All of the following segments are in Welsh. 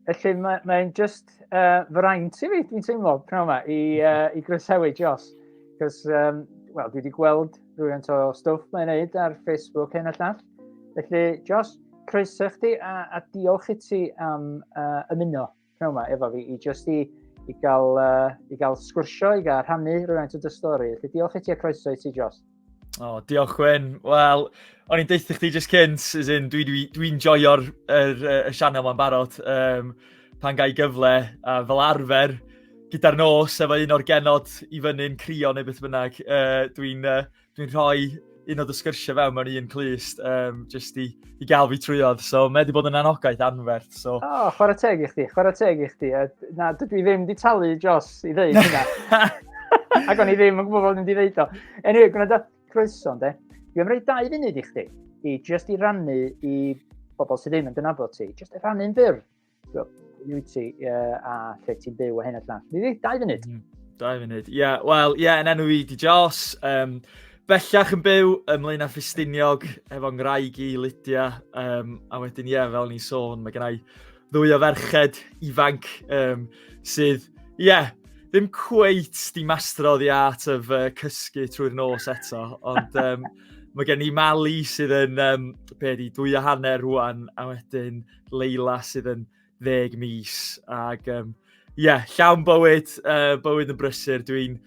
Felly mae'n mae just uh, fraint i fi, dwi'n teimlo, pnawn yma, i, uh, i groesawu Jos. Cos, um, wel, dwi wedi gweld rhywun o stwff mae'n neud ar Facebook hyn a llall. Felly, Jos, croeso chdi a, a diolch i ti am uh, ymuno. pnawn yma efo fi i just i, i, gael, uh, i gael sgwrsio, i gael rhannu rhywfaint o dy stori. Felly diolch i ti a croeso i ti, Jos. O, oh, diolch Gwen. Wel, o'n i'n deitha chdi just cynt, as in, dwi'n dwi, dwi, dwi joio'r er, er, er sianel ma'n barod. Um, pan gai gyfle, a fel arfer, gyda'r nos efo un o'r genod i fyny'n crio neu beth bynnag, uh, dwi'n uh, dwi'n rhoi un o dy sgyrsiau fewn mewn un clust, um, jyst i, i gael fi trwyodd. So, mae wedi bod yn anogaeth anferth. So. O, oh, chwarae teg i chdi, chwarae teg i chdi. Na, dydw i ddim di talu Jos i ddeud hynna. Ac o'n i ddim yn gwybod bod yn di ddeud o. Anyway, gwna da croeso, de. Dwi am roi dau funud i chdi, i just i rannu i bobl sydd ddim yn dynabod ti, just i rannu'n fyr Ydw ti, uh, a lle ti'n byw a hyn a llall. Ni ddeud, dau funud. Mm, dau funud, ie. Yeah, Wel, ie, yeah, yn enw i di Jos. Um, bellach yn byw ym Mlaenau Ffestiniog efo ngwraig i Lydia. Um, a wedyn, ie, yeah, fel ni'n sôn, mae gennau ddwy o ferched ifanc um, sydd, ie, yeah, ddim cweit di mastro the art of uh, cysgu trwy'r nos eto, ond um, Mae gen i Mali sydd yn, um, be di, dwy a hanner rwan, a wedyn Leila sydd yn ddeg mis. Ac ie, um, yeah, llawn bywyd, uh, bywyd yn brysur. Dwi'n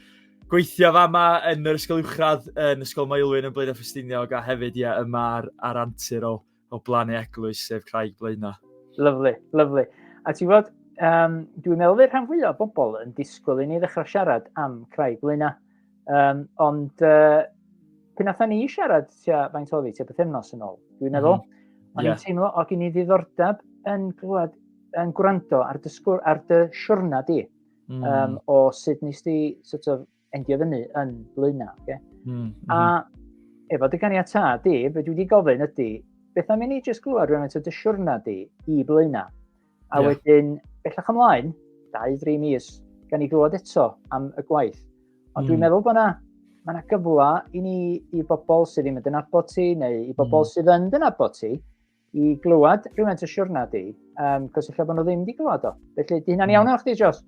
gweithio fa yma yn yr ysgol uwchradd yn Ysgol Maelwyn yn Blaenau Ffestiniog a hefyd ie, yma ar, ar antur o, o blannu eglwys sef Craig Blaenau. Lyflu, lyflu. A ti'n fod, um, dwi'n meddwl fe rhan fwyaf o bobl yn disgwyl i ni ddechrau siarad am Craig Blaenau. Um, ond uh, pan atho ni siarad tua faint oedd hi, tua bythefnos yn ôl, dwi'n meddwl, mm -hmm. o'n yeah. i'n teimlo o gen i ddiddordeb yn glwad, yn gwrando ar, dysgwr, ar dy siwrna di, mm. um, o sut nes di sort of, endio fyny yn blaenau. Okay? Mm -hmm. A mm-hmm. efo dy ganiatad di, fe dwi wedi gofyn ydy, beth am i ni jyst glwad rhywun eto dy siwrna di i blaenau? A yeah. wedyn, bellach ymlaen, 2-3 mis, gan ni glywed eto am y gwaith. Ond mm. dwi'n hmm. meddwl bod yna ma yna gyfle i ni, i bobl sydd ddim yn dynabod ti, neu i bobl mm. sydd yn dynabod ti, i glywed rhywfaint o siwrna di, um, cos efallai bod nhw ddim wedi glywed o. Felly, di hynna'n hmm. iawn o'ch di, Jos?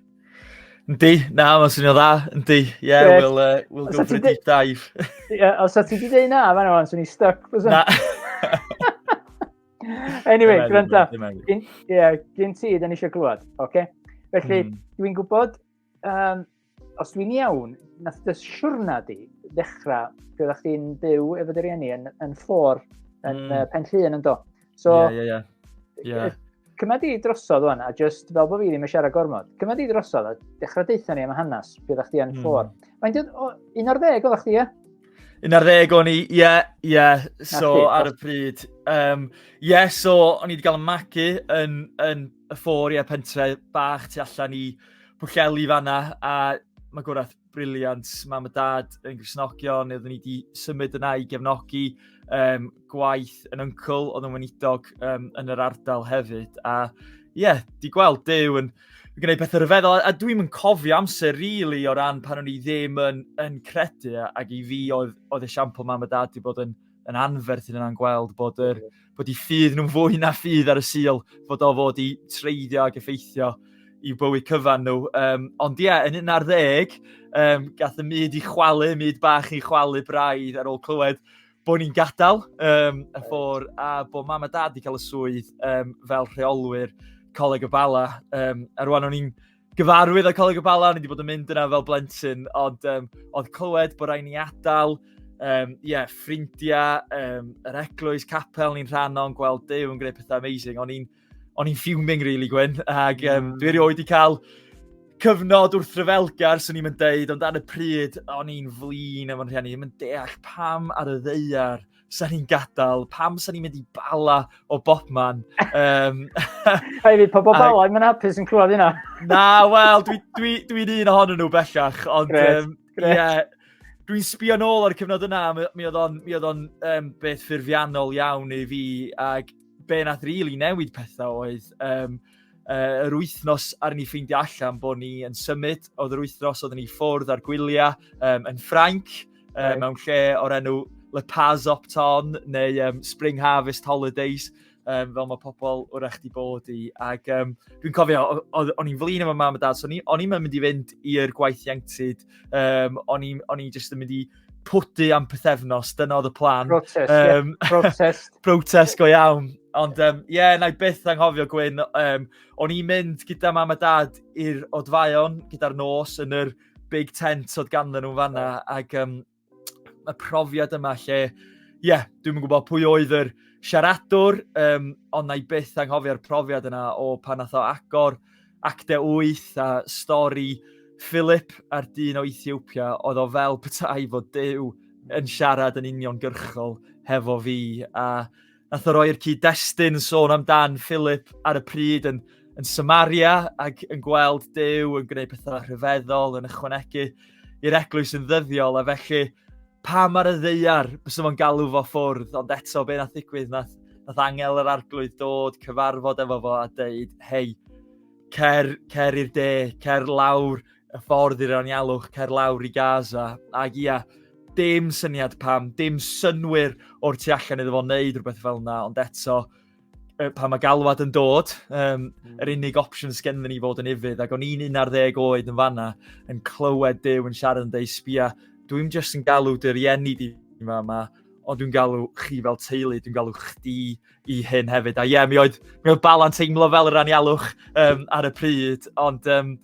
Yndi, na, mae'n swnio dda, yndi. Ie, yeah, yeah. we'll, uh, we'll go for a deep dive. Ie, os ti wedi dweud na, fan o'n swnio stuck. Na. anyway, gwrando. Ie, yeah, gyn ti, dyn ni eisiau glwad. Okay? Felly, mm. dwi'n gwybod, um, os dwi'n iawn, nath dy siwrna di ddechrau, fe oeddech chi'n byw efo dy rieni yn, yn ffôr, yn mm. uh, pen llun yn do. So, yeah, yeah, yeah. Yeah. Cyma di drosodd o'n, a just fel bod fi ddim yn siarad gormod, cyma di drosodd a dechrau deitha ni am hanes, byddech chi yn mm. ffôr. Mae'n dweud, un o'r ddeg oeddech chi, ie? Yn ar ddeg o'n i, ie, yeah, ie, yeah. so it, ar y pryd. Um, yeah, so o'n i wedi cael y magu yn, yn y ffôr, ie, yeah, pentre bach tu allan i Pwlleli fanna, a mae gwraeth briliant, mam a dad yn grisnogion, oeddwn i wedi symud yna i gefnogi um, gwaith yn yncl, oedd yn weinidog um, yn yr ardal hefyd, a ie, yeah, di gweld Dew yn, yn gwneud pethau rhyfeddol, a, a dwi'n yn cofio amser rili really, o ran pan o'n i ddim yn, yn credu, ac i fi oedd, oedd esiampl mam a dad wedi bod yn, yn anferth yn yna'n gweld bod, yr, bod i ffydd nhw'n fwy na ffydd ar y sil, bod o fod i treiddio ac effeithio i'w bywyd cyfan nhw. Um, ond ie, yeah, yn un ar ddeg, um, gath y myd i chwalu, myd bach i chwalu braidd ar ôl clywed bod ni'n gadael um, y ffôr a bod mam a dad wedi cael y swydd um, fel rheolwyr Coleg y Bala. Um, a rwan o'n i'n gyfarwydd o Coleg y Bala, o'n i wedi bod yn mynd yna fel blentyn, ond um, oedd clywed bod rhaid ni adael, um, yeah, ffrindiau, um, yr eglwys, capel ni'n rhan o'n gweld Dyw yn gwneud pethau amazing. O'n i'n o'n i'n fuming really Gwyn, ac um, dwi erioed wedi cael cyfnod wrth ryfelgar, swn i'n mynd deud, ond ar y pryd, o'n i'n flin efo'n rhieni, yn deall pam ar y ddeiar sa'n ni'n gadael, pam sa'n ni'n mynd i bala o bobman. Um, Hei fi, pobl bala, i'n mynd hapus yn clywed hynna. na, wel, dwi'n dwi, dwi, dwi un ohonyn nhw bellach, ond gret, um, gret. Yeah, dwi'n sbio nôl ar y cyfnod yna, mi oedd o'n um, beth ffurfiannol iawn i fi, ac be nath rili really newid pethau oedd um, uh, yr wythnos ar ni ffeindio allan bod ni yn symud, oedd yr wythnos oedd ni ffwrdd ar gwyliau um, yn Ffrainc, um, right. mewn lle o'r enw Le Paz Opton neu um, Spring Harvest Holidays, um, fel mae pobl wrach di bod i. Ac um, dwi'n cofio, o'n i'n flin efo mam a dad, so o'n i'n mynd i fynd i'r gwaith ieuenctid, um, o'n i'n just yn mynd i pwdu am pethefnos, dyna oedd y plan. Protest, um, yeah. protest. protest go iawn. Ond ie, um, yeah, na i byth anghofio Gwyn, um, o'n i'n mynd gyda mam a dad i'r odfaon, gyda'r nos yn yr big tent oedd ganddyn nhw'n fanna, ac um, y profiad yma lle, ie, yeah, dwi'n gwybod pwy oedd yr siaradwr, um, ond na i byth anghofio'r profiad yna o pan nath o agor Acte 8 a stori Philip a'r dyn o Ethiopia oedd o fel petai fod Dyw yn siarad yn uniongyrchol hefo fi a nath o roi'r cyd-destun yn sôn amdan Philip ar y pryd yn, yn Samaria ac yn gweld Dyw yn gwneud pethau rhyfeddol yn ychwanegu i'r eglwys yn ddyddiol a felly pam ar y ddeiar, bys nhw'n galw fo ffwrdd, ond eto be nath ddigwydd, nath, nath angel yr arglwydd dod, cyfarfod efo fo a dweud, hei, cer, cer i'r de, cer lawr y ffordd i'r anialwch, cer lawr i Gaza. Ac ia, dim syniad pam, dim synwyr o'r tu allan iddo fo wneud rhywbeth fel yna, ond eto, pan mae galwad yn dod, um, mm. yr unig opsiwn sgen ni fod yn ifydd, ac o'n i'n 11 oed yn fanna, yn clywed Dyw yn siarad yn dweud, sbia, dwi'n just yn galw dy rieni di yma yma, ond dwi'n galw chi fel teulu, dwi'n galw chdi i hyn hefyd. A ie, yeah, mi oedd, mi oedd balan teimlo fel yr anialwch um, ar y pryd, ond ie, um,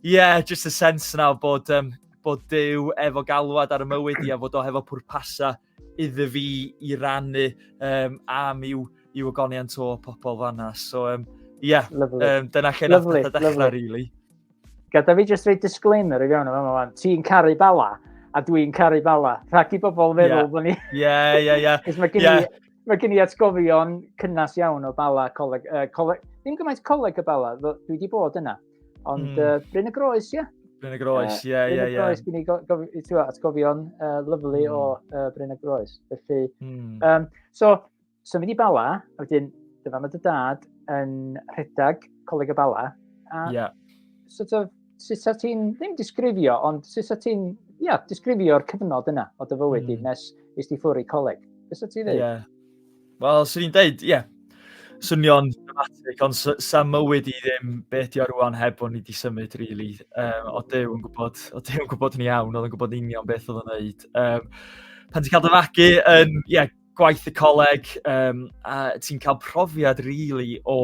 yeah, just y sens yna bod, um, bod Dyw efo galwad ar y mywyd i a fod o hefo pwrpasau iddo fi i rannu um, am i'w, i'w agoniant o pobl fanna. So, um, yeah, um, dyna lle nath pethau dechrau, really. Gada fi jyst rei disclaimer i fewn yma, ti'n caru bala, a dwi'n caru bala. Rhaid i bobl feddwl yeah. bod ni... Ie, ie, ie. Cos mae gen i... Yeah. Mae gen i atgofion cynnas iawn o bala coleg... Uh, coleg ddim gymaint coleg y bala, dwi wedi bod yna. Ond mm. uh, Bryn y Groes, ie. Yeah. Bryn y Groes, ie, ie, ie. Bryn y Groes, yeah. ni gof, atgofion uh, lyflu mm. o uh, Bryn y Groes. Felly, mm. um, so, so mynd i Bala, a wedyn, dyfa mae dy dad yn rhedeg Coleg y Bala. A, yeah. Sort of, sut sa ti'n, ddim disgrifio, ond sut sa ti'n, ia, yeah, disgrifio'r cyfnod yna o dy fywyd mm. i nes i sti ffwrdd i coleg. Beth sa ti'n dweud? Yeah. Wel, swn i'n deud, ie, swnio'n dramatig, ond sa, sa mywyd i ddim be ydi o rwan heb bod ni wedi symud, really. Um, o Dyw yn gwybod, o Dyw yn gwybod yn iawn, oedd yn gwybod union beth oedd yn neud. Um, pan ti'n cael dy fagu yn, ie, yeah, gwaith y coleg, um, a ti'n cael profiad, really, o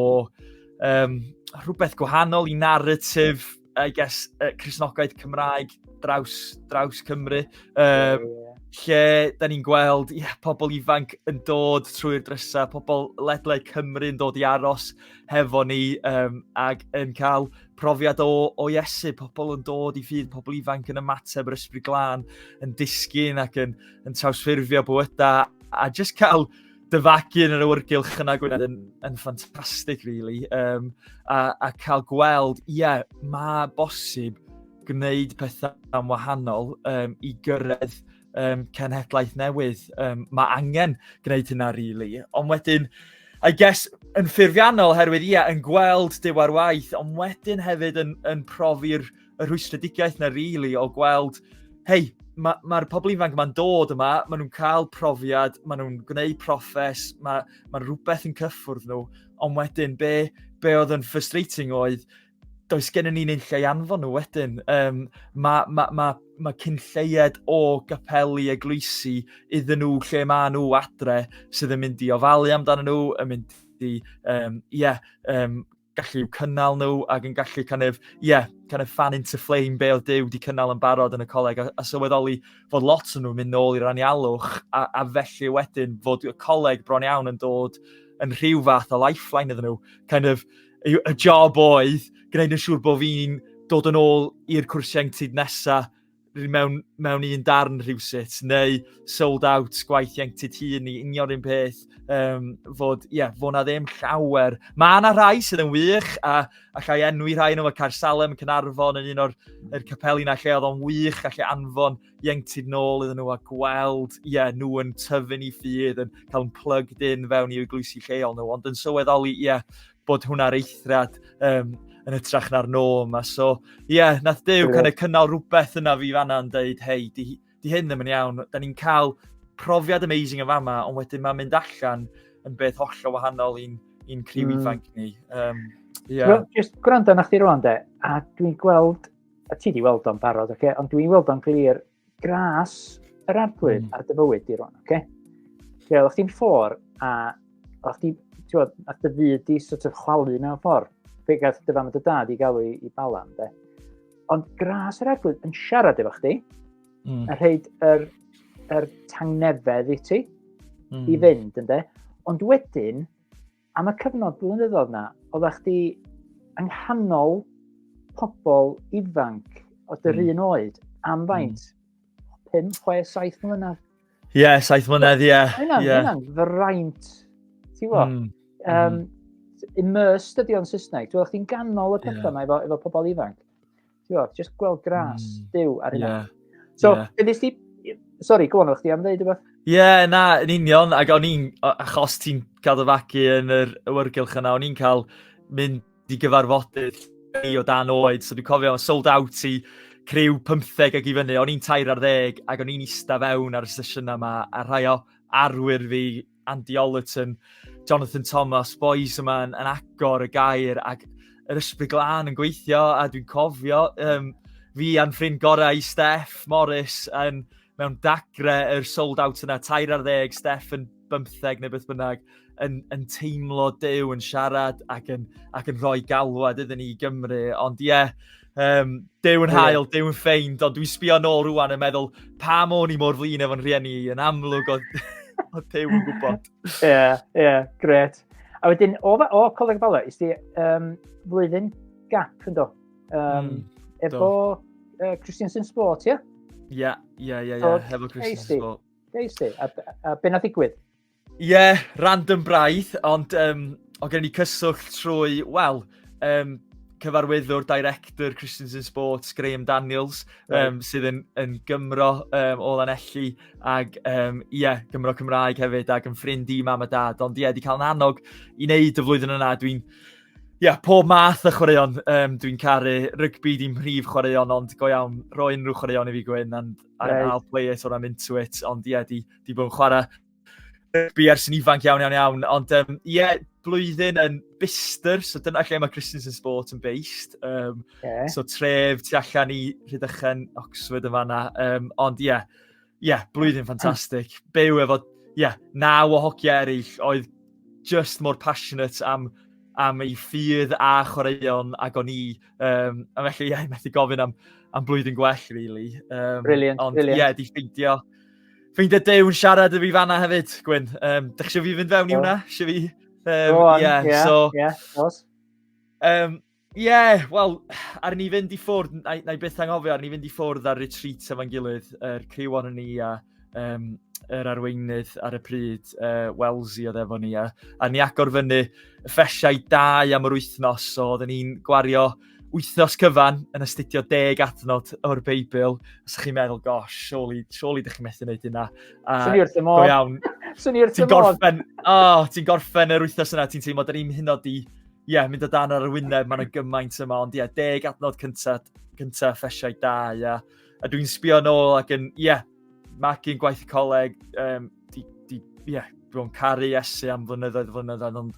um, rhywbeth gwahanol i narratif I guess, uh, Cresnogaeth Cymraeg draws, draws Cymru. Um, yeah, yeah. Lle, da ni'n gweld, ie, yeah, pobl ifanc yn dod trwy'r drysau, pobl ledlau Cymru yn dod i aros hefo ni um, ac yn cael profiad o, o Iesu, pobl yn dod i ffydd, pobl ifanc yn ymateb yr ysbryd glân, yn disgyn ac yn, yn trawsffurfio bywydau, a jyst cael dyfagu yn yr awyrgylch yna Gwynedd yn, yn ffantastig, really. Um, a, a cael gweld, ie, yeah, mae bosib gwneud pethau am wahanol um, i gyrraedd um, cenhedlaeth newydd. Um, mae angen gwneud hynna, really. Ond wedyn, I guess, yn ffurfiannol, herwydd, ie, yeah, yn gweld diwar waith, ond wedyn hefyd yn, yn profi'r y rhwystredigaeth na rili o gweld, hei, mae'r ma, ma pobl ifanc yma'n dod yma, maen nhw'n cael profiad, maen nhw'n gwneud profes, mae ma rhywbeth yn cyffwrdd nhw, ond wedyn be, be oedd yn frustrating oedd, does gennym ni'n ein lle anfon nhw wedyn. Um, mae ma, ma, ma cyn lleied o gapelu eglwysi iddyn nhw lle mae nhw adre sydd yn mynd i ofalu amdano nhw, yn mynd i, um, yeah, um, gallu i'w cynnal nhw ac yn gallu kind of, yeah, kind of fan into flame be oedd Dyw wedi cynnal yn barod yn y coleg a, a sylweddoli fod lot o'n nhw'n mynd nôl i'r anialwch a, a felly wedyn fod y coleg bron iawn yn dod yn rhyw fath o lifeline iddyn nhw. Kind of, y, y job oedd gwneud yn siŵr bod fi'n dod yn ôl i'r cwrsiau ieuenctid nesaf mewn, mewn un darn rhywsut, neu sold out gwaith ieuenctid hun i union un peth, um, fod, ie, yeah, fod na ddim llawer. Mae yna rhai sydd yn wych, a allai enwi rhai nhw, mae Caer Salem yn Cynarfon yn un o'r er capeli na lle oedd o'n wych, allai anfon ieuenctid nôl iddyn nhw a gweld, ie, yeah, nhw yn tyfu'n i ffydd, yn cael yn plugged in fewn i'w glwysi lleol nhw, ond yn sylweddoli, ie, yeah, bod hwn ar eithriad um, yn hytrach na'r norm. A so, ie, yeah, nath Dew kind of cynnal rhywbeth yna fi fanna yn dweud, hei, di, di hyn ddim yn iawn. Da ni'n cael profiad amazing yn fama, ond wedyn mae'n mynd allan yn beth hollol wahanol i'n un criw mm. ifanc ni. Um, yeah. Well, just gwrando na chdi rwan de, a dwi'n gweld, a ti di weld o'n barod, okay? ond dwi'n weld o'n glir gras yr arglwydd mm. ar dy fywyd di rwan, oce? Okay? Lle oeddech chdi'n ffôr a oeddech chdi'n, ti'n bod, a dy fyd di sort of chwalu mewn ffordd. Fe gael dy fam a dy dad i gael i, i balan, de. Ond gras yr arglwydd yn siarad efo chdi, mm. a rhaid yr, yr tangnefedd i ti, mm. i hmm. fynd, ynddo. Ond wedyn, Am y cyfnod blynyddoedd na, oeddech chdi yng nghanol pobl ifanc o dy mm. un oed am hmm. faint? Mm. 5, 6, 7 mlynedd? Ie, yeah, 7 mlynedd, ie. Yeah. Mae'n yeah. hynna'n fraint, ti'n fo? Mm. Um, immersed ydi o'n Saesneg. Dwi'n chdi'n ganol y pethau yeah. efo, efo pobl ifanc. Ti'n gwybod, just gweld gras, mm. diw ar hynna. Yeah. So, yeah. be nes ti... Sorry, go on, o'ch ti am ddeud yma? Ie, yeah, na, yn union, ac o'n i'n, achos ti'n cadw fagu yn yr awyrgylch yna, o'n i'n cael mynd i gyfarfodydd ni o dan oed, so dwi'n cofio sold out i criw 15 ag i fyny, o'n i'n tair ar ddeg, ac o'n i'n eista fewn ar y sesiynau yma, a rhai o arwyr fi Andy Ollerton, Jonathan Thomas, boys yma yn, yn agor y gair ac yr ysbryd glân yn gweithio a dwi'n cofio um, fi a'n ffrind gorau i Steff Morris yn mewn dagre yr sold out yna, tair ar ddeg, Steff yn bymtheg neu beth bynnag, yn, yn teimlo dew, yn siarad ac yn, ac yn rhoi galwad iddyn ni i Gymru. Ond ie, yeah, Um, dew yn hael, dew yn ffeind, ond dwi'n sbio nôl rwan yn meddwl, pa môn i mor flin efo'n rhieni i, yn amlwg o, o dew yn gwybod. Ie, yeah, ie, yeah, gret. A wedyn, o, o Coleg Bala, is di um, flwyddyn gap, ynddo? Um, mm, efo uh, Christiansen Sport, ie? Ie, ie, ie, efo Christiansen Sport. Deis di, a, a be na ddigwydd? Ie, yeah, random braidd, ond um, o gen i cyswllt trwy, wel, um, cyfarwyddwr, director Christians in Sports, Graham Daniels, right. um, sydd yn, yn Gymro um, o Lanelli, ac um, yeah, Gymro Cymraeg hefyd, ac yn ffrind i mam a dad. Ond ie, yeah, di cael yn annog i wneud y flwyddyn yna, dwi'n Ia, yeah, pob math y chwaraeon. Um, dwi'n caru rygbi, dim rhif chwaraeon, ond go iawn, roi unrhyw chwaraeon i fi gwyn, and, and right. I'll play it or I'm into it. Ond ie, yeah, di di bod yn chwarae rygbi ers yn ifanc iawn, iawn, iawn. Ond ie, um, yeah, blwyddyn yn Bister, so dyna lle mae Christensen Sport yn based. Um, yeah. So tref tu allan i Rhydychen, Oxford yn fanna. Um, ond ie, yeah, yeah, blwyddyn hmm. ffantastig. Byw efo, ie, yeah, naw o hogia eraill oedd just mor passionate am am ei ffydd a chwaraeon ag o'n i. Um, a felly, ie, yeah, methu gofyn am, am blwyddyn gwell, really. Um, brilliant, ond, brilliant. Ie, yeah, di ffeindio, Ffeindio Dew'n siarad y fi fanna hefyd, Gwyn. Um, Dych chi fi fynd fewn i hwnna? Sio fi? Um, Go on, yeah, yeah, so, yeah, of course. Um, yeah, wel, ar ni fynd i ffwrdd, na, na i byth anghofio, ar ni fynd i ffwrdd ar retreat efo'n gilydd, yr er criw o'n ni a um, yr er arweinydd ar y pryd, uh, Welsi oedd efo ni, a, a ni agor fyny y ffesiau dau am yr wythnos, so oedden ni'n gwario wythnos cyfan yn astudio deg adnod o'r Beibl. Os ydych chi'n meddwl, gosh, surely, surely ydych chi'n methu wneud hynna. Swnio'r tymor. Go iawn. Swnio'r tymor. Ti'n gorffen, oh, ti'n gorffen yr wythnos yna, ti'n teimlo, da ni'n hyn o di, ie, yeah, mynd o dan ar y wyneb, mae'n y gymaint yma, ond ie, yeah, deg adnod cyntaf, cyntaf ffesiau da, ie. Yeah. A dwi'n sbio nôl ac yn, ie, yeah, magu'n gwaith y coleg, um, di, di, yeah, dwi'n caru Iesu am flynyddoedd flynyddoedd, ond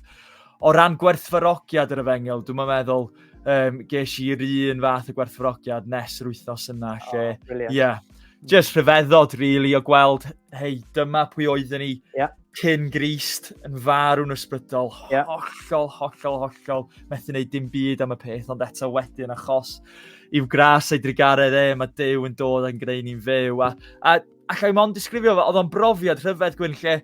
o ran gwerthfarogiad yr efengel, dwi'n meddwl, um, ges i'r un fath o gwerthfarogiad nes yr wythnos yna, lle, oh, brilliant. yeah, just rhyfeddod, really, o gweld, hei, dyma pwy oeddwn ni yeah. cyn grist yn farw'n ysbrydol, yeah. hollol, hollol, hollol, methu wneud dim byd am y peth, ond eto wedyn achos i'w gras ei drigaredd e, mae Dyw yn dod yn gwneud ni'n fyw. A, a Alla i mond disgrifio fo, oedd o'n brofiad rhyfedd gwyn lle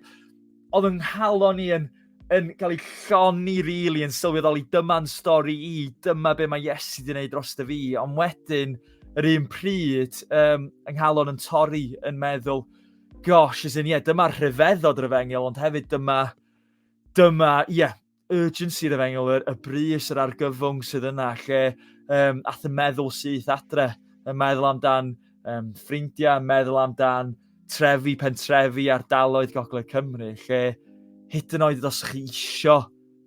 oedd yn halo ni yn, yn cael ei lloni rili, really, yn sylweddoli dyma'n stori i, dyma be mae Iesu wedi gwneud dros dy fi, ond wedyn, yr un pryd, um, yng nghalon yn torri yn meddwl, gosh, as in, yeah, dyma rhyfeddod yr efengyl, ond hefyd dyma, dyma, ie, yeah, urgency yr efengyl, y, y brys, yr argyfwng sydd yna, lle um, ath y meddwl syth adre, y meddwl amdan um, ffrindiau, meddwl amdan trefi, pentrefi, ardaloedd Gogledd Cymru, lle hyd yn oed os chi isio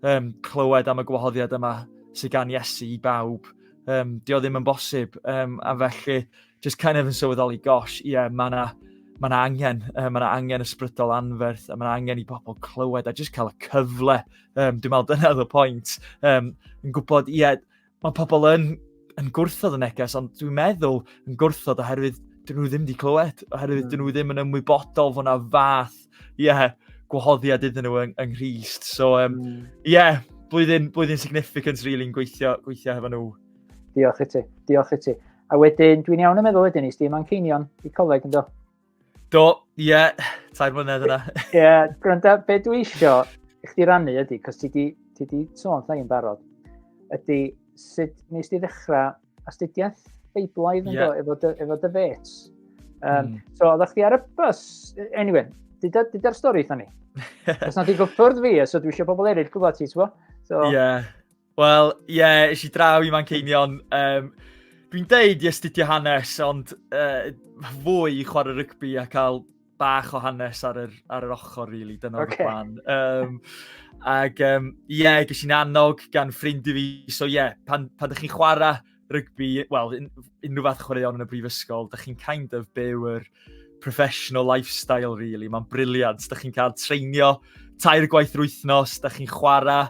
um, clywed am y gwahoddiad yma sydd gan Iesu i bawb, um, dio ddim yn bosib, um, a felly just kind of yn sylweddoli, gosh, ie, yeah, mae yna ma na angen, uh, mae yna angen ysbrydol anferth, a mae yna angen i bobl clywed, a just cael y cyfle, um, dwi'n meddwl dyna oedd y pwynt, um, yn gwybod, ie, yeah, mae pobl yn, yn gwrthod y neges, ond dwi'n meddwl yn gwrthod oherwydd dyn nhw ddim wedi clywed, oherwydd dyn nhw hmm. ddim yn ymwybodol fod yna fath, ie, yeah, gwahoddiad iddyn nhw yng, yng Nghyst. So, ie, um, mm. yeah, blwyddyn, blwyddyn significant, really, yn gweithio, gweithio hefo nhw. Diolch i ti, diolch i ti. A wedyn, dwi'n iawn yn meddwl wedyn, is di Manceinion i coleg yn do? Do, ie, yeah, tair mlynedd yna. Ie, yeah, gwranda, be dwi isio i chdi rannu ydy, cos ti di, ti di sôn llai yn barod, ydy sut nes di ddechrau astudiaeth Beiblaidd yn yeah. do, efo dy, efo dy fets. Um, mm. So, oeddech chdi ar y bus, anyway, dyda'r dyda stori eitha ni. Os na di gyffwrdd fi, so dwi eisiau pobl eraill gwybod ti, ti'n So, yeah. Wel, ie, yeah, eisiau i draw i Manceinion. Um, Dwi'n deud i astudio hanes, ond uh, fwy i chwarae rygbi a cael bach o hanes ar yr, ar yr ochr, really. Dyna okay. plan. Um, ac, ie, um, yeah, ges i'n annog gan ffrind i fi. So, ie, yeah, pan, pan ydych chi'n chwarae rygbi, wel, un, unrhyw fath chwaraeon yn y brifysgol, da chi'n kind of byw yr professional lifestyle, really. Mae'n briliant. Da chi'n cael treinio tair gwaith yr wythnos, da chi'n chwarae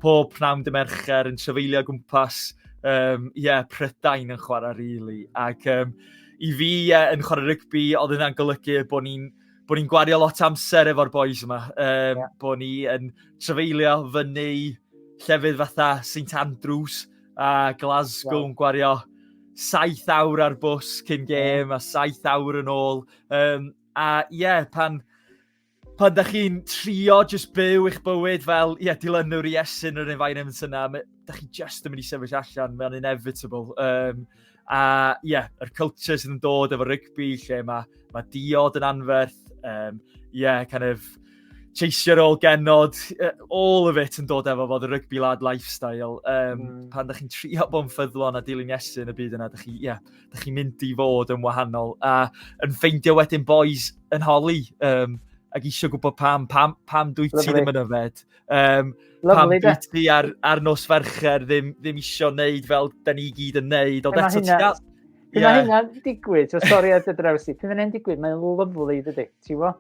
pob pnawn dy mercher yn trefeilio gwmpas, um, yeah, prydain yn chwarae, really. Ac um, i fi, yeah, yn chwarae rygbi, oedd yna'n golygu bod ni'n bod ni'n gwario lot amser efo'r boys yma. Um, yeah. Bod ni yn trefeilio fyny llefydd fatha St Andrews, a Glasgow yn gwario saith awr ar bws cyn gêm a saith awr yn ôl. Um, a ie, yeah, pan, pan da chi'n trio just byw eich bywyd fel, ie, yeah, dilynwr i esyn yr environment yna, da chi just yn mynd i sefyll allan, mae'n inevitable. Um, A ie, yeah, yr culture sydd yn dod efo rygbi lle mae, mae diod yn anferth, um, yeah, kind of cheisio'r ôl genod, all of it yn dod efo fod y rygbi lad lifestyle. Um, mm. Pan da chi'n trio bod yn ffyddlon a dilyn Iesu yn y byd yna, da chi'n yeah, da chi mynd i fod yn wahanol. A yn ffeindio wedyn boys yn holi, um, ac eisiau gwybod pam, pam, pam dwi ti ddim yn yfed. Um, Lovely, pan ti ar, ar nos fercher ddim, ddim isio wneud fel da ni gyd yn wneud. Ond eto ti'n gael... Pyn yeah. hynna'n digwydd, o sori ar dy draws i, pyn hynna'n digwydd, mae'n lyflu dydy, ti fo?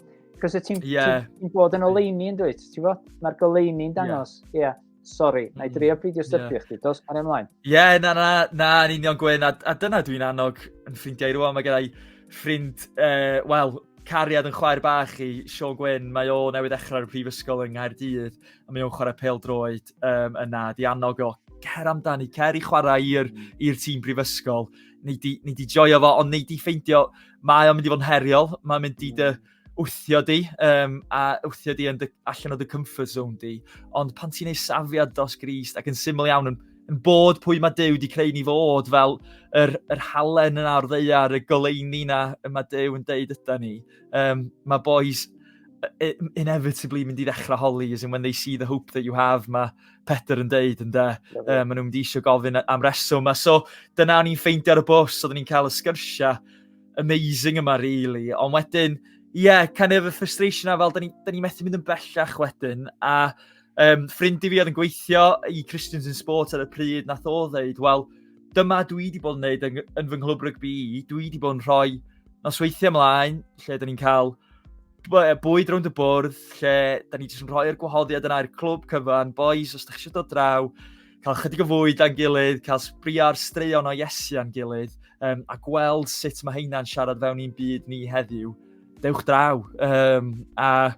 Cos y ti'n yeah. ti bod yn oleini yn dweud, ti fo? Mae'r goleini'n dangos, ie. Yeah. yeah. Sorry, na i mm. drio peidio styrpio yeah. chdi, dos ar ymlaen. Ie, yeah, na, na, na, yn union gwyn, a, a dyna dwi'n annog yn ffrindiau rwan, mae gennau ffrind, uh, wel, Cariad yn chwaer bach i Siôn Gwyn. Mae o newydd ddechrau ar y prifysgol yng Nghaerdydd a mae o'n chwarae pel droed um, yna. Di annog o, cer amdani, cer i chwarae i'r mm. tîm prifysgol. Nei di, nei di joio fo, ond nei di ffeindio, mae o'n mynd i fod yn heriol, mae'n mynd i dy wthio di, um, a wthio di yn dy, allan o dy comfort zone di. Ond pan ti'n ei safiad dos grist ac yn syml iawn yn yn bod pwy mae Dyw wedi creu ni fod, fel yr, yr halen yna o'r ddeiar, y goleini yna, y mae Dyw yn deud yda ni. Um, mae boys inevitably mynd i ddechrau holi, as in when they see the hope that you have, mae Peter yn deud, ynddo. Um, maen nhw'n mynd i eisiau gofyn am reswm. A so, dyna o'n i'n ffeindio ar y bus, oedden ni'n cael y sgyrsiau amazing yma, really. Ond wedyn, ie, yeah, kind of y frustration a fel, da ni'n ni methu mynd yn bellach wedyn, a Um, ffrind i fi oedd yn gweithio i Christians in Sports ar y pryd, nath o ddeud, wel, dyma dwi wedi bod yn neud yn, yn fy nghlwb rygbi i, dwi wedi bod yn rhoi nosweithiau ymlaen, lle dyn ni'n cael bwyd rownd y bwrdd, lle dyn ni jyst yn rhoi'r gwahoddiad yna i'r clwb cyfan, boys, os ydych chi eisiau dod draw, cael chydig o fwyd a'n gilydd, cael sbria'r straeon o Iesu a'n gilydd, um, a gweld sut mae heina'n siarad fewn i'n byd ni heddiw, dewch draw. Um, a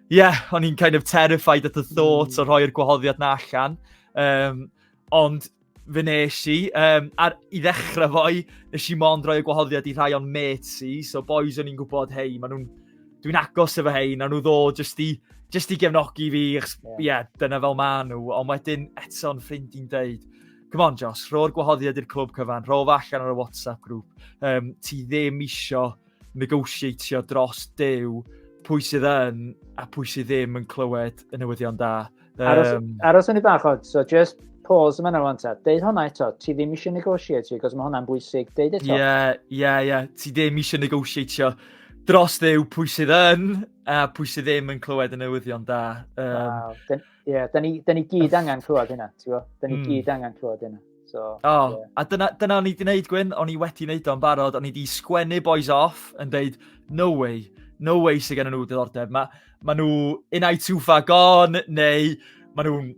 yeah, o'n i'n kind of terrified at the thought o hmm. rhoi'r gwahoddiad na allan. Um, ond fy nes i, um, ar, i ddechrau fo'i, nes i mond roi y gwahoddiad i rhai o'n mates i, so boys o'n i'n gwybod, hei, maen nhw'n, dwi'n agos efo hei, na nhw ddo, jyst i, jyst i gefnogi fi, ie, yeah. yeah, dyna fel maen nhw, ond wedyn eto'n ffrind i'n deud, come on Josh, rho'r gwahoddiad i'r clwb cyfan, rho fa allan ar y WhatsApp grŵp, um, ti ddim eisiau negosiatio dros dew pwy sydd yn a pwy sydd ddim yn clywed y newyddion da. Um, aros, aros yn ei bach o, so just pause yma nawr ta. Deud hwnna eto, ti ddim eisiau negosiatio, gos mae hwnna'n bwysig, deud eto. Ie, yeah, ie, yeah, ie, yeah. ti ddim eisiau negosiatio dros ddew pwy sydd yn a pwy sydd ddim yn clywed y newyddion da. Um, wow. Ie, yeah, da ni, da ni gyd angen clywed hynna, ti'n gwybod? Da ni mm. gyd angen clywed hynna. So, o, oh, yeah. a dyna, dyna o'n i wedi gwneud, Gwyn, o'n i wedi gwneud o'n barod, o'n i wedi sgwennu boys off yn deud, no way, no way sy'n gen nhw diddordeb. Mae ma nhw in I too far gone, neu mae nhw'n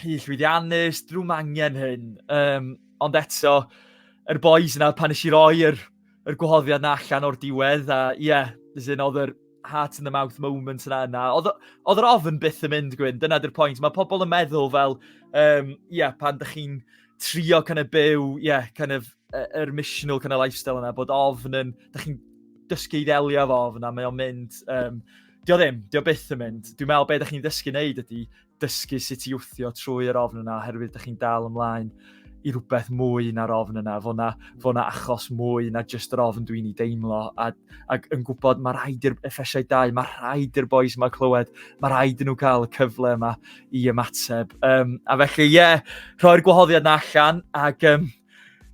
rhy llwyddiannus, drwy mangen hyn. Um, ond eto, yr er boys yna, pan eisiau roi yr er yr gwahoddiad na allan o'r diwedd, a ie, yeah, yn oedd yr heart in the mouth moment yna yna. Oedd yr ofn byth yn mynd, Gwyn, dyna dy'r pwynt. Mae pobl yn meddwl fel, ie, um, yeah, pan dych chi'n trio kind of byw, ie, yeah, kind of, yr missional kind of lifestyle yna, bod ofn yn, dych chi'n dysgu i ddelio fo ofn a mae o'n mynd, um, Dio ddim, dio byth yn mynd. Dwi'n meddwl beth ydych chi'n ddysgu wneud ydy dysgu sut i wthio trwy yr ofn yna oherwydd ydych chi'n dal ymlaen i rhywbeth mwy na'r ofn yna. Fo na, fo na achos mwy na just yr ofn dwi'n ei deimlo. A, ac yn gwybod mae rhaid i'r effesiau dau, mae rhaid i'r boys yma clywed, mae rhaid i nhw cael y cyfle yma i ymateb. Um, a felly, ie, yeah, rhoi'r gwahoddiad na allan ac um,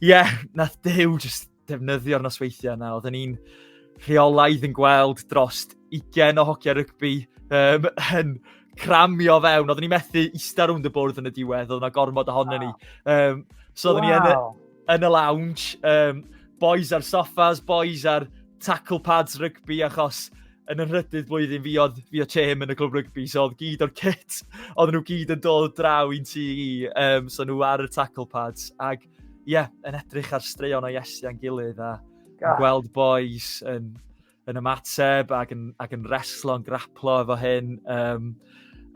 ie, yeah, nath dew just defnyddio'r nosweithiau yna. Oedden ni'n rheolaidd yn gweld dros 20 o hogia rygbi um, yn cramio fewn. Oedden ni methu eista rwnd y bwrdd yn y diwedd, oedden nhw gormod ohono ni. Um, so oedden wow. ni yn y, yn y lounge, um, boys ar soffas, boys ar tackle pads rygbi, achos yn y rhydydd blwyddyn fi oedd fi o Chem yn y clwb rygbi, so oedd gyd o'r kit, oedden nhw gyd yn dod draw i'n tu i, um, so nhw ar y tackle pads, ac ie, yeah, yn edrych ar straeon o Iesu a'n gilydd a yeah. gweld boys yn, yn ymateb ac yn, ac yn reslo'n graplo efo hyn. Um,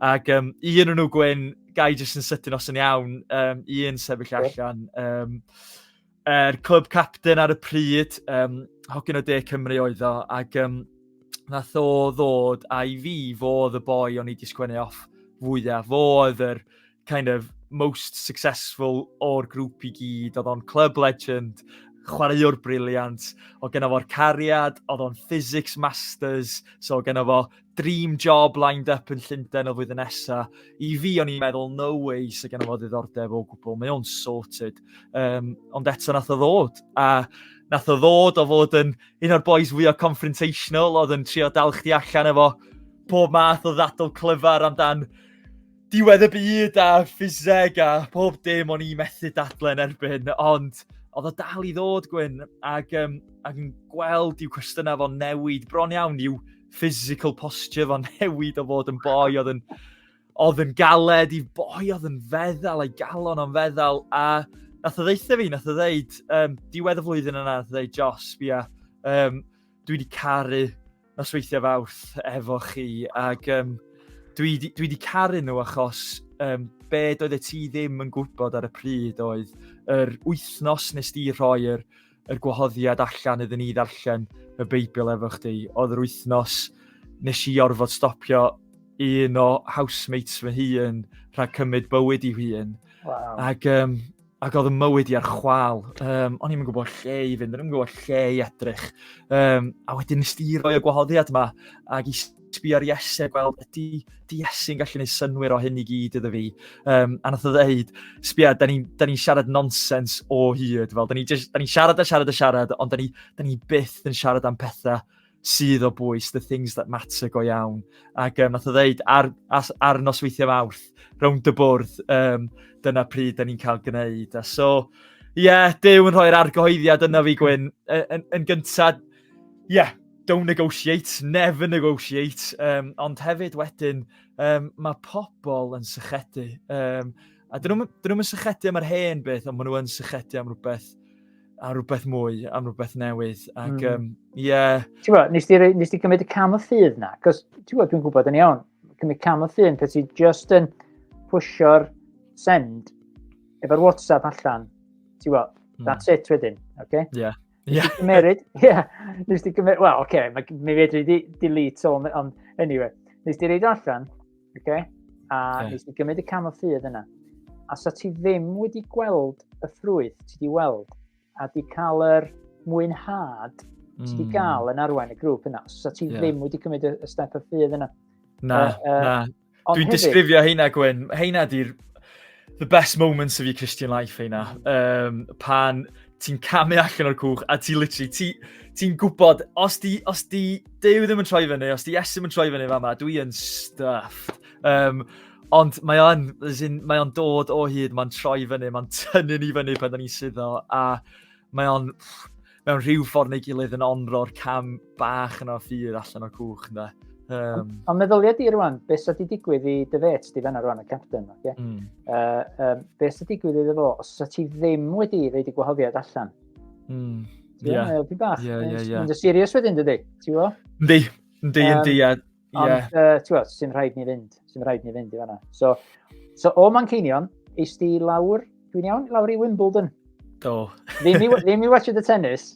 ac um, un o'n nhw gwyn, gai jyst yn sydyn os yn iawn, um, un sefyll allan. Um, er clwb captain ar y pryd, um, hogyn o De Cymru oedd o, ac um, nath o ddod a i fi fodd y boi o'n i wedi sgwennu off fwyaf. Fo oedd yr kind of most successful o'r grŵp i gyd, oedd o'n club legend, chwaraewr briliant, oedd gen fo'r cariad, oedd o'n physics masters, so oedd gen fo dream job lined up yn Llundain o flwyddyn nesa. I fi, o'n i'n meddwl, no way, sy'n gen fo ddiddordeb o gwbl, mae o'n sorted. Um, ond eto nath o ddod, a nath o ddod o fod yn un o'r boys fwy o confrontational, oedd yn trio dal chdi allan efo pob math o ddadl clyfar amdan diwedd y byd a ffiseg a pob dim o'n i methu dadlen erbyn, ond oedd o dal i ddod, Gwyn, ac, um, ac yn gweld i'w cwestiynau fo'n newid, bron iawn i'w physical posture fo'n newid o fod yn boi oedd yn, oedd yn galed i boi oedd yn feddal, a'i galon o'n feddal, a nath o ddeitha fi, nath o ddeud, um, diwedd y flwyddyn yna, nath o ddeud, Jos, fi a, um, dwi wedi caru nosweithiau fawrth efo chi ac um, dwi wedi dwi di caru nhw achos um, be doedd y ti ddim yn gwybod ar y pryd oedd yr wythnos nes di rhoi'r er, gwahoddiad allan iddyn ni ddarllen y Beibl efo chdi. Oedd yr wythnos nes i orfod stopio un o housemates fy hun rhag cymryd bywyd i hun. Wow. Ac um, ac oedd y mywyd i ar chwal. Um, o'n i'n gwybod lle i fynd, o'n i'n gwybod lle i edrych. Um, a wedyn nes di roi y gwahoddiad yma, ac i sbio ar Iese, gweld ydy di Iesu'n gallu gwneud synwyr o hyn i gyd iddo fi. Um, a nath o ddeud, sbio, da ni'n ni siarad nonsens o hyd, fel, da ni'n ni siarad a siarad a siarad, ond da ni'n ni, ni byth yn siarad am pethau sydd o bwys, the things that matter go iawn. Ac um, nath o ddeud, ar, ar, ar nosweithiau mawrth, rownd y bwrdd, um, dyna pryd da ni'n cael gwneud. A so, ie, yeah, Dyw yn rhoi'r argyhoeddiad yna fi, Gwyn. Yn, yn, yn gyntaf, ie, yeah, don't negotiate, never negotiate. Um, ond hefyd wedyn, um, mae pobl yn sychedu. Um, a dyn nhw'n nhw sychedu am yr hen beth, ond maen nhw'n sychedu am rhywbeth a rhywbeth mwy, am rhywbeth newydd. Ac, mm. um, yeah. Ti'n gwybod, nes ti, nes ti cymryd y cam y ffydd na? Cos, ti'n gwybod, dwi'n gwybod yn iawn, cymryd cam y ffydd, cos ti'n just yn pwysio'r send efo'r WhatsApp allan. Ti'n gwybod, mm. that's it wedyn, oce? Okay? Yeah. Nes yeah. cymryd, yeah, nes ti cymryd, well, oce, okay, mi fedri di delete all, ond anyway, nes ti reid allan, Okay? A okay. nes i gymryd y cam o ffydd yna. A sa ti ddim wedi gweld y ffrwyth ti wedi weld a di cael yr mwynhad mm. ti wedi cael yn arwain y grŵp yna. Os ti yeah. ddim wedi cymryd y step o ffydd yna. Na, uh, uh, na. Dwi'n disgrifio heina, Gwyn. Heina di'r The best moments of your Christian life, heina. Um, pan ti'n camu allan o'r cwch a ti literally, ti, ti'n gwybod, os di, os di Dew ddim yn troi fyny, os di Esim yn troi fyny fa ma, dwi yn stuffed. Um, ond mae o'n, mae o'n dod o hyd, mae'n troi fyny, mae'n tynnu ni fyny pan da ni'n suddo, a Mae o'n mewn rhyw ffordd neu gilydd yn onro'r cam bach yna ffydd allan o'r cwch, ynddo. Um, Ond meddylia di rwan, beth sydd wedi digwydd i dy fet di fenna rwan, y captain, oce? Okay? Mm. Uh, um, beth sydd wedi digwydd iddo fo, os ydy ti ddim wedi reid i gwahoddiad allan? Mm. Ie, yeah. yeah, yeah, yeah. Mae'n serious wedyn, dydy? Ti'n gwybod? Yndi, yndi, yndi, ie. Ond, yeah. uh, ti'n gwybod, sy'n rhaid ni fynd. Sy'n rhaid ni fynd i fanna. So, so o Manceinion, eist i lawr, dwi'n iawn, lawr i Wimbledon. Do. ddim, i, ddim i watched y tennis.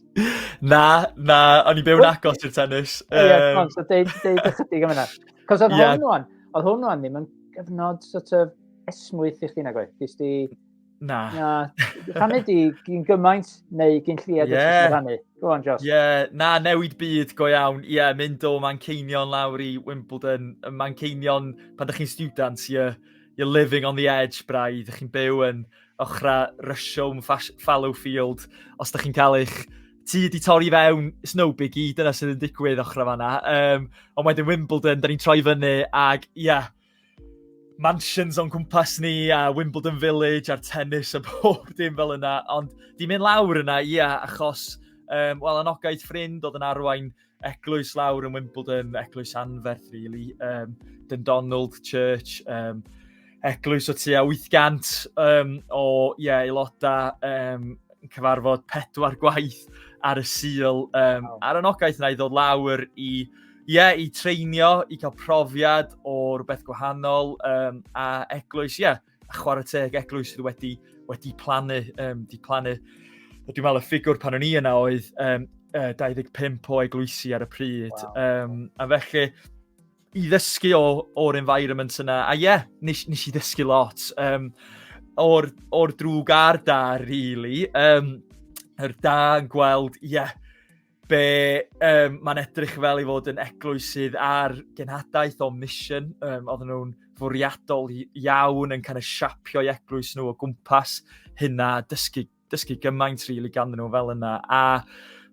na, na, o'n i byw'n agos i'r tennis. Ie, yeah, um... so deud, deud ychydig am yna. Cos oedd yeah. hwn o'n, oedd hwn o'n ddim yn gyfnod sort of esmwyth i chdi nag oedd. Dys di Na. Na. Rhannu di gyn gymaint neu gyn lliad yeah. eich rhannu. Go on, Josh. Ie, yeah. na, newid byd go iawn. Ie, yeah, mynd o Manceinion lawr i Wimbledon. Y Manceinion, pan ydych chi'n student, you're, you're living on the edge, braidd. Ydych chi'n byw yn ochrau Russian fallow field. Os ydych chi'n cael eich ti wedi torri fewn, it's no biggie, dyna sydd yn digwydd ochrau fanna. Um, ond wedyn Wimbledon, da ni'n troi fyny, ac ie, yeah, mansions o'n cwmpas ni a Wimbledon Village a'r tennis a bob dim fel yna. Ond di mynd lawr yna, ia, achos, um, wel, anogaeth ffrind oedd yn arwain eglwys lawr yn Wimbledon, eglwys anferth, really. Um, Dyn Donald Church, um, eglwys o tua 800 um, o yeah, aelodau um, cyfarfod pedwar gwaith ar y sil. Um, wow. Ar anogaeth yna i ddod lawr i Ie, yeah, i treinio, i cael profiad o rhywbeth gwahanol, um, a eglwys, ie, yeah, a chwarae teg eglwys sydd wedi, wedi plannu, um, di plannu. Dwi'n meddwl y ffigwr pan o'n i yna oedd um, 25 o eglwysi ar y pryd. Wow. Um, a felly, i ddysgu o, o'r environment yna, a ie, yeah, nes, nes i ddysgu lot. Um, o'r, or drwg ar da, really. Um, yr da yn gweld, ie, yeah, Be um, mae'n edrych fel i fod yn eglwys sydd ar genhadaeth o mission, um, oedden nhw'n fwriadol iawn yn kind of siapio'i eglwys nhw o gwmpas hynna, dysgu, dysgu gymaint rili really, ganddyn nhw fel yna. A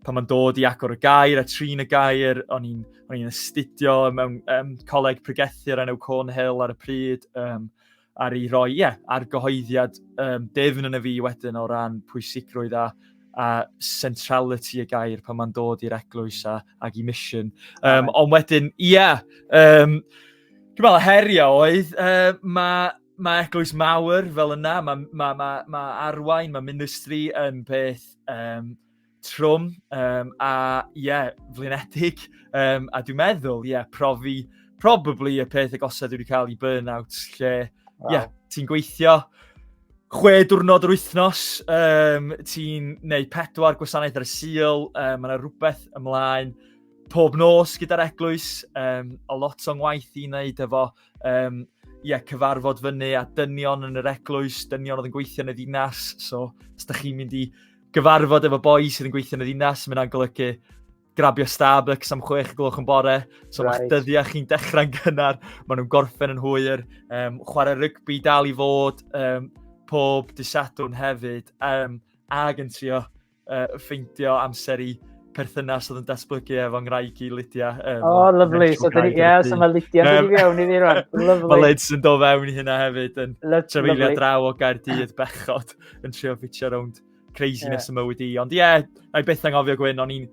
pan mae'n dod i agor y gair a trin y gair, o'n i'n o'n i'n astudio mewn um, coleg pregethu ar enw Cornhill ar y pryd, um, ar ei roi, ie, yeah, ar gyhoeddiad um, defn yn y fi wedyn o ran pwysigrwydd a, a centrality y gair pan mae'n dod i'r eglwys a, ag i mission. Um, ond wedyn, ie, yeah, um, dwi'n meddwl, herio oedd, uh, mae ma eglwys mawr fel yna, mae ma, ma, ma arwain, mae ministry yn peth um, trwm, um, a ie, yeah, flinedig, um, a dwi'n meddwl, ie, yeah, profi, probably y peth agosau dwi wedi cael i burnout, lle, ie, wow. yeah, ti'n gweithio chwe diwrnod yr wythnos, um, ti'n neud pedwar gwasanaeth ar y sil, um, mae yna rhywbeth ymlaen pob nos gyda'r eglwys, um, a lot o'n waith i wneud efo um, yeah, cyfarfod fyny a dynion yn yr eglwys, dynion oedd yn gweithio yn y ddinas, so os da chi'n mynd i gyfarfod efo boi sydd yn gweithio yn y ddinas, mae'n golygu grabio Starbucks am chwech y gloch yn bore, so right. mae'ch dyddiau chi'n dechrau'n gynnar, maen nhw'n gorffen yn hwyr, um, chwarae rygbi dal i fod um, pob disadwn hefyd, um, ag yn trio uh, ffeindio amser i perthynas oedd yn datblygu efo ngwraig i Lydia. Um, oh, lovely. So, dyn, yeah, so mae Lydia yn mynd i fewn i fi rwan. Lovely. Mae Lids yn do fewn i hynna hefyd, yn trefeilio draw o Gaerdydd bechod. yn trio ffitio rownd craziness yeah. y mywyd i. Ond ie, yeah, na i beth anghofio Gwyn, o'n i'n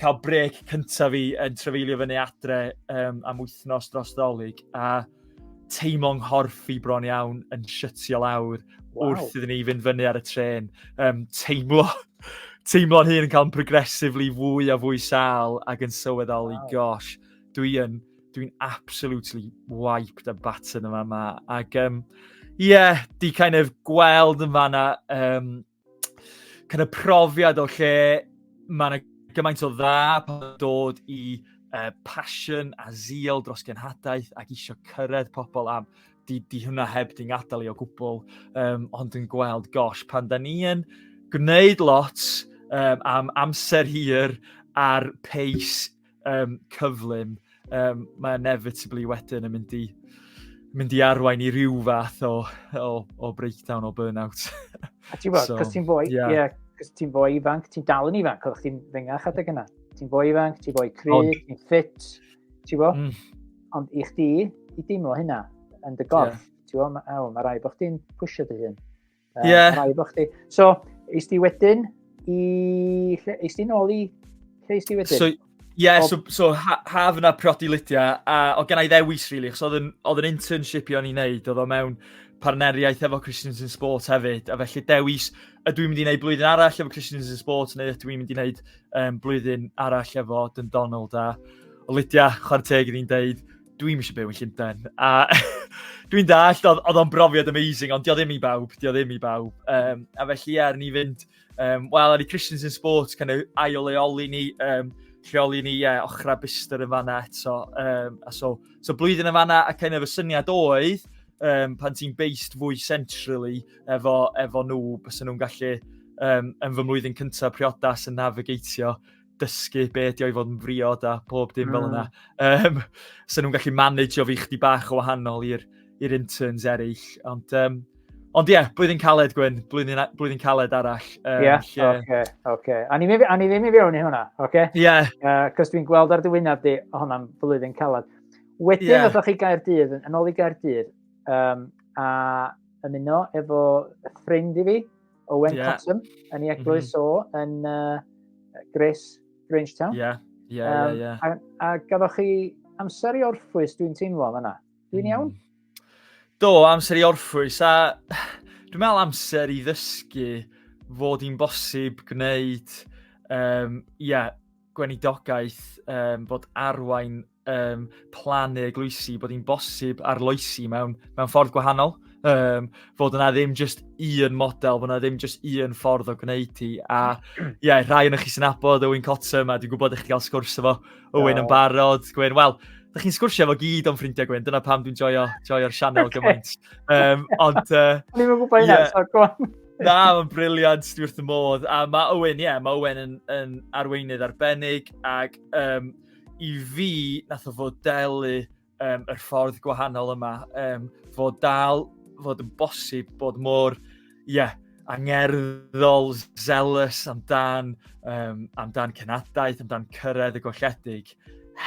cael brec cyntaf fi yn trefeilio fyny adre um, am wythnos dros ddolig a teimlo'n nghorff i bron iawn yn shytio lawr wow. wrth iddyn ni fynd fyny ar y tren. Um, teimlo, teimlo'n hun yn cael yn progressively fwy a fwy sal ac yn sylweddoli, wow. gosh, dwi yn dwi'n absolutely wiped a battered yn fanna. Ac, um, yeah, di kind of gweld yn fanna, um, kind of profiad o lle mae yna gymaint o dda pan dod i uh, passion a zeal dros genhadaeth ac eisiau cyrraedd pobl am di, di hwnna heb di'n gadael i o gwbl, um, ond yn gweld, gosh, pan da ni yn gwneud lot um, am amser hir ar pace um, cyflym, um, mae inevitably wedyn yn mynd i, mynd i arwain i ryw fath o, o, o breakdown, o burnout. A ti'n bod, so, cos ti'n fwy, yeah. yeah, cos ti'n fwy ifanc, ti'n dal yn ifanc, oeddech ti'n ddengach adeg yna. Ti'n fwy ifanc, ti'n fwy cry, ti'n ffit, ti'n bo? Mm. Ond i chdi, i deimlo hynna, yn dy gorff, yeah. ti'n bo, mae ma rai bod chdi'n pwysio dy hun. Uh, yeah. Rai bo chdi. So, eis di wedyn i... Eis di nôl i... Lle eis di wedyn? So, yeah, o... so, so ha, haf yna priodi Lydia, a o gen i ddewis, rili, really, achos oedd yn internship i o'n i'n neud, oedd o mewn partneriaeth efo Christians in Sport hefyd, a felly dewis y dwi'n mynd i wneud blwyddyn arall efo Christians in Sport neu ydw i'n mynd i wneud um, blwyddyn arall efo Dyn Donald a Lydia, chwarae teg iddyn deud, Dwi'n eisiau byw yn Llundain. A dwi'n dall, oedd o'n brofiad amazing, ond dio ddim i bawb, dio ddim i bawb. Um, a felly, ie, ni fynd, um, wel, ar i Christians in Sports, kind of ail leoli ni, um, lleoli ni, ie, yeah, ochrau byster yn fanna eto. Um, a so, so blwyddyn yn fanna, a kind of y syniad oedd, um, pan ti'n based fwy centrally efo, efo nhw, bys nhw'n gallu um, yn fy mlwyddyn cyntaf priodas yn navigatio dysgu be ydi o i fod yn friod a pob dim mm. fel yna. Um, hmm. so nhw'n gallu manageio fi chdi bach o wahanol i'r interns eraill. Ond, um, ond ie, yeah, blwyddyn caled, Gwyn, blwyddyn, blwyddyn caled arall. Um, yeah, lle... okay, okay. A ni ddim i fewn i hwnna, okay? Ie. Yeah. Uh, Cos dwi'n gweld ar dywynaf di hwnna'n blwyddyn caled. Wedyn, yeah. ydych chi gair dydd, yn ôl i gair dydd, um, a ymuno efo ffrind i fi, Owen yeah. Cotton yn ei eglwys mm -hmm. o yn uh, Grace Grangetown. Ie, yeah. ie, yeah, um, ie, yeah, yeah. A, a gaddoch chi amser i orffwys, dwi'n teimlo yna. Dwi'n mm. iawn? Do, amser i orffwys. A dwi'n meddwl amser i ddysgu fod hi'n bosib gwneud, um, yeah, gwenidogaeth, um, fod arwain um, plannu eglwysi, bod hi'n bosib arloesi mewn, mewn ffordd gwahanol. Um, fod yna ddim just un model, fod yna ddim just un ffordd o gwneud hi. A ie, yeah, rhai yn chi sy'n abod Owen Cottom, a dwi'n gwybod eich chi gael sgwrs efo Owen yn barod. Gwen, wel, da chi'n sgwrsio efo gyd o'n ffrindiau Gwen, dyna pam dwi'n joio, joio'r sianel okay. gymaint. Um, ond... Uh, O'n i'n gwybod hynna, yeah. so go on. Na, mae'n briliant, dwi wrth y modd. A mae Owen, ie, yeah, mae Owen yn, yn arweinydd arbennig, ac um, i fi, nath o fodelu um, yr ffordd gwahanol yma, um, fod dal fod yn bosib bod mor, ie, yeah, angerddol, zealous amdan, um, amdan cenadaeth, amdan cyrraedd y golledig,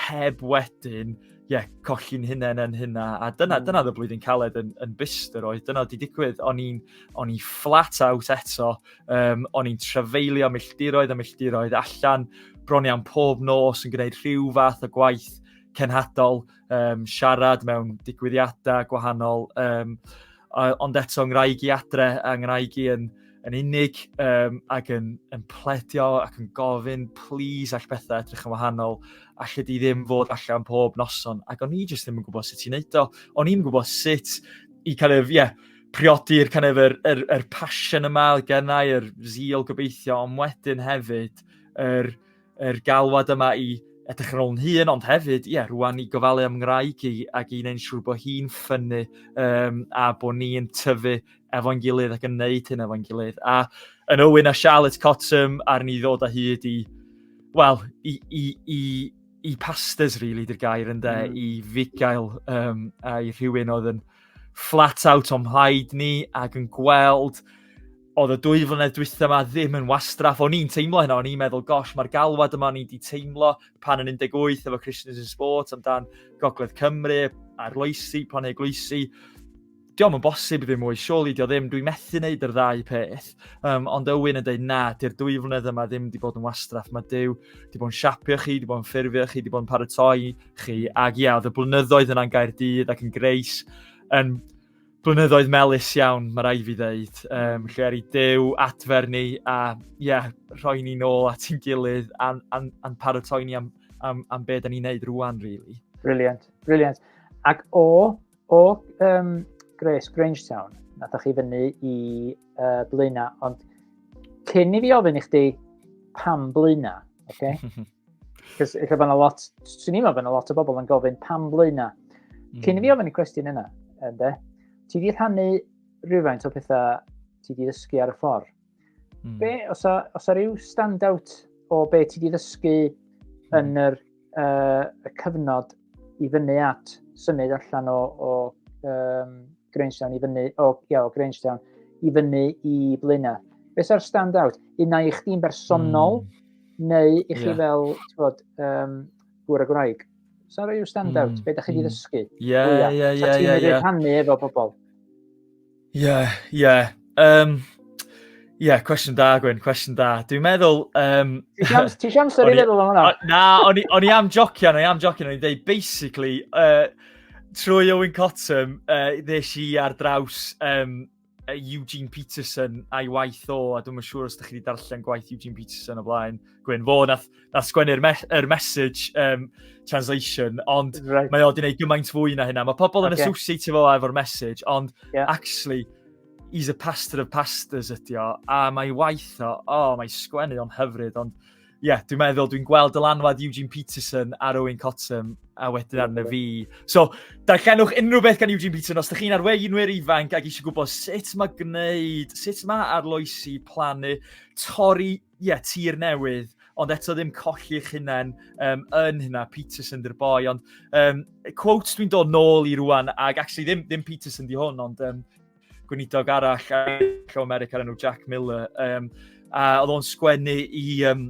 heb wedyn, ie, yeah, colli'n hunain yn hynna. A dyna, mm. dyna dda blwyddyn caled yn, yn byst yr oedd. Dyna wedi digwydd. O'n i'n fflat out eto Um, o'n i'n trefeilio milltiroedd a milltiroedd allan, bron iawn pob nos yn gwneud rhyw fath o gwaith cenhadol, um, siarad mewn digwyddiadau gwahanol. Um, ond eto, ngwraig i adre a ngwraig i yn, yn unig um, ac yn, yn pledio ac yn gofyn, please, all bethau edrych yn wahanol, allai di ddim fod allan pob noson. Ac o'n i jyst ddim yn gwybod sut i'n neud o. O'n i'n gwybod sut i kind of, yeah, priodir kind of yr, yr, yr passion yma oedd gennau, yr zeal gobeithio, ond wedyn hefyd yr, yr galwad yma i edrych yn ôl yn hun, ond hefyd, ie, yeah, rwan i gofalu am ngwraig i ac i wneud siŵr bod hi'n ffynnu um, a bod ni'n tyfu efo'n gilydd ac yn neud hyn efo'n gilydd. A yn Owen a Charlotte Cottam ar ni ddod â hyd i, wel, i, i, i, i pastors, really, di'r gair, ynddo, mm. i fugail um, a i rhywun oedd yn flat out o'n mhlaid ni ac yn gweld oedd y dwy flynedd dwytha yma ddim yn wastraff. O'n i'n teimlo hynna, o'n i'n meddwl, gosh, mae'r galwad yma o'n i wedi teimlo pan yn 18 efo Christians in Sport amdan Gogledd Cymru, arloesi, planhau gloesi. Diolch yn bosib ddim mwy, surely dio ddim, dwi'n methu wneud yr ddau peth. Um, ond Ywyn yn dweud, na, di'r dwy flynedd yma ddim wedi bod yn wastraff. Mae Dyw wedi bod yn siapio chi, wedi bod yn ffurfio chi, wedi bod yn paratoi chi. Ac ia, oedd y blynyddoedd yna'n Gaerdydd ac yn Greis yn blynyddoedd melus iawn, mae rai fi ddeud, um, lle ar ei dew adfer ni a ia, rhoi ni nôl at ein gilydd a'n a, a paratoi ni am, am, am beth da ni'n neud rwan, really. Brilliant, brilliant. Ac o O um, Grace Grangetown, nathoch chi fyny i uh, Blaena, ond cyn i fi ofyn i chdi pam Blaena, oce? Okay? Cos eich bod yna lot, swn i'n meddwl bod yna lot o bobl yn gofyn pam blaena. Mm. Cyn i fi hmm. ofyn y cwestiwn yna, ynde, ti di rhannu rhywfaint o pethau ti di ddysgu ar y ffordd. Mm. Be, os a, os a rhyw stand-out o be ti wedi ddysgu hmm. yn yr, uh, y cyfnod i fyny at symud allan o, o um, Grangetown i fyny, o, ia, o Grangetown i fyny i Blaenau. Be sa'r stand-out? Un i chdi'n bersonol mm. neu i chi yeah. fel, ti'n bod, um, gwyr y Gwraeg? Sa'n rhoi yw stand-out? Mm. Be da chi wedi hmm. ddysgu? Ie, ie, ie. Sa ti'n mynd i'r rhannu efo pobl? Ie, ie. Um, Ie, yeah, cwestiwn da, Gwyn, cwestiwn da. Dwi'n meddwl... Um, Ti si amser i feddwl am hwnna? Na, o'n i am jocian, o'n i am jocian, o'n i'n dweud, basically, uh, trwy Owen Cottam, uh, ddes i ar draws um, Eugene Peterson a'i waith o, a dwi'n siŵr os ydych chi wedi darllen gwaith Eugene Peterson o blaen, Gwyn, fo nath, nath sgwennu'r me er message um, translation, ond right. mae o wedi gwneud gymaint fwy na hynna. Mae pobl yn okay. associate fo efo'r message, ond yeah. actually, he's a pastor of pastors ydi o, a mae waith o, o, oh, mae sgwennu o'n hyfryd, ond ie, yeah, dwi'n meddwl, dwi'n gweld dylanwad Eugene Peterson ar Owen Cottam a wedyn arno fi. So, darllenwch unrhyw beth gan Eugene Peterson, os ydych chi'n arweinwyr ifanc ac eisiau gwybod sut mae gwneud, sut mae arloesi, plannu, torri ie, tir newydd, ond eto ddim colli eich hunain um, yn hynna, Peterson dy'r boi, ond um, quotes dwi'n dod nôl i rwan, ac actually ddim, ddim Peterson di hwn, ond um, gweinidog arall o America enw Jack Miller, um, a oedd o'n sgwennu i um,